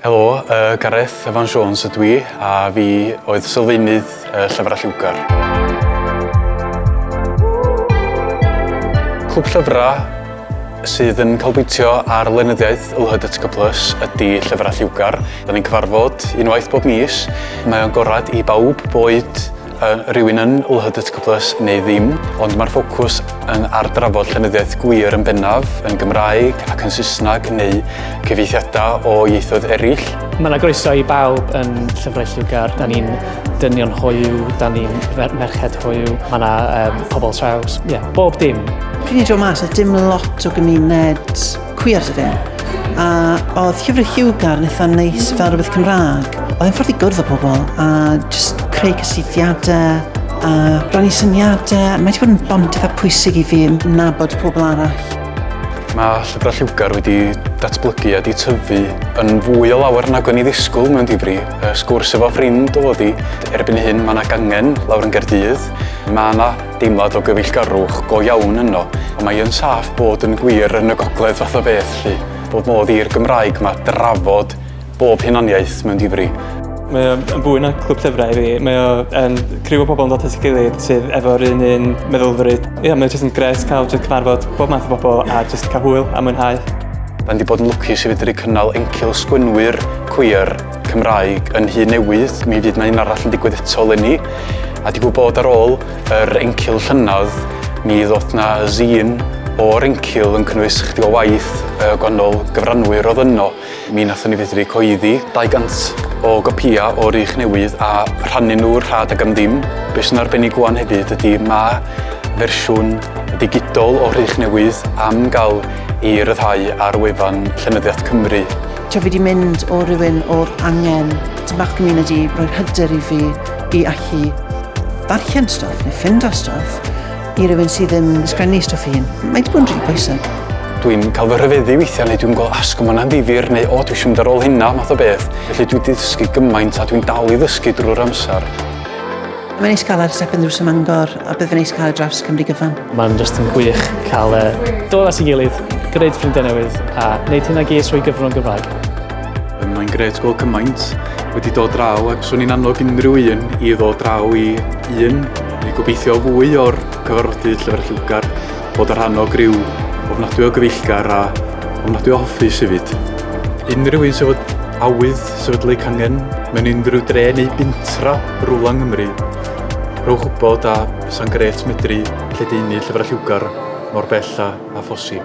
Helo, yy, Gareth Evan Jones ydw i, a fi oedd sylfaenydd y llyfrau lliwgar. Clwb llyfrau sydd yn canolbwyntio ar lenyddiaeth LHDTC Plus ydy Llyfrau Lliwgar. Da ni'n cyfarfod unwaith bob mis. Mae o'n gorad i bawb boed Yy, rywun yn LHDTC Plus neu ddim, ond mae'r ffocws yn ar drafod llenyddiaeth gwir yn bennaf, yn Gymraeg ac yn Saesneg neu cyfieithiadau o ieithoedd eraill. Mae 'na groeso i bawb yn Llyfrau Lliwgar. Da ni'n dynion hoyw, da ni'n fer- merched hoyw, mae 'na um, pobl traws, ie, yeah, bob dim. Fi wedi dod mas, oedd dim lot o gymuned Cwiar dydw i. A oedd llyfr Hugar yn eitha neis fel rhywbeth Cymraeg. Oedd e'n ffordd i gwrdd â pobl a just creu cysylltiadau a rannu syniadau. Mae wedi bod yn bont eitha pwysig i fi yn nabod pobl arall. Mae llyfrau lliwgar wedi datblygu a di tyfu yn fwy o lawer nag o'n i ddisgwyl mewn difri. Sgwrs efo ffrind oedd i. Erbyn hyn mae yna gangen lawr yn Gerdydd. Mae yna Deimlad o gyfeillgarwch go iawn yno, ond mae yn saff bod yn gwir yn y gogledd fath o beth 'lly, bod modd i'r Gymraeg 'ma drafod bob hunaniaeth mewn difri. Mae o yn fwy na clwb llyfrau i fi. Mae o yn criw o bobl yn dod at ei gilydd sydd efo'r un un meddylfryd. Ie, yeah, mae jyst yn gres cael jyst cyfarfod bob math o bobl a jyst cael hwyl a mwynhau. Rydyn wedi bod yn lwcus i fedru cynnal encil sgwynwyr cwiar Cymraeg yn Nhŷ Newydd, mi fydd 'na un arall yn digwydd eto leni, a digwydd bod ar ôl yr encil llynedd, mi ddoth 'na zine o'r encil yn cynnwys chydig o waith y gwahanol gyfranwyr oedd yno. Mi nathon ni fedru coeddi 200 o gopïa o Rich Newydd a rhannu nhw rhad ag am ddim. Be sy'n arbennig ŵan hefyd ydy ma' fersiwn ddigidol o Rhych Newydd am gael ei ryddhau ar wefan Llenyddiaeth Cymru. Ti fi wedi mynd o rywun oedd angen tyn bach community, roedd hyder i fi i allu ddarllen stwff neu ffind o stwff i rywun sydd ddim yn sgrennu stwff i hun. Mae wedi bod yn rili bwysig. Dwi'n cael fy rhyfeddu weithiau neu dwi'n gweld asg yma'n andifir neu o dwi eisiau mynd ar ôl hynna math o beth. Felly dwi wedi dysgu gymaint a dwi'n dal i ddysgu drwy'r amser. Mae'n neis cael ar Second Drws ym Mangor a bydd yn neis cael y drafts Cymru gyfan. Mae'n just yn gwych cael e dod at ei gilydd, gwneud ffrindiau newydd a wneud hyn ag es o'i gyfrwng Gymraeg. Mae'n gret gweld cymaint wedi dod draw ac swn i'n annog unrhyw un i ddod draw i un i gobeithio fwy o'r cyfarfodydd llyfr lliwgar bod y rhan o griw ofnadwy o gyfeillgar a ofnadwy o hoffus hefyd. Unrhyw un sydd fod awydd Sefydlu cangen mewn unrhyw dre neu bintra rwla yng Nghymru. Rhowch wybod a bysa'n grêt medru lledaenu llyfrau lliwgar mor bell â, â phosib.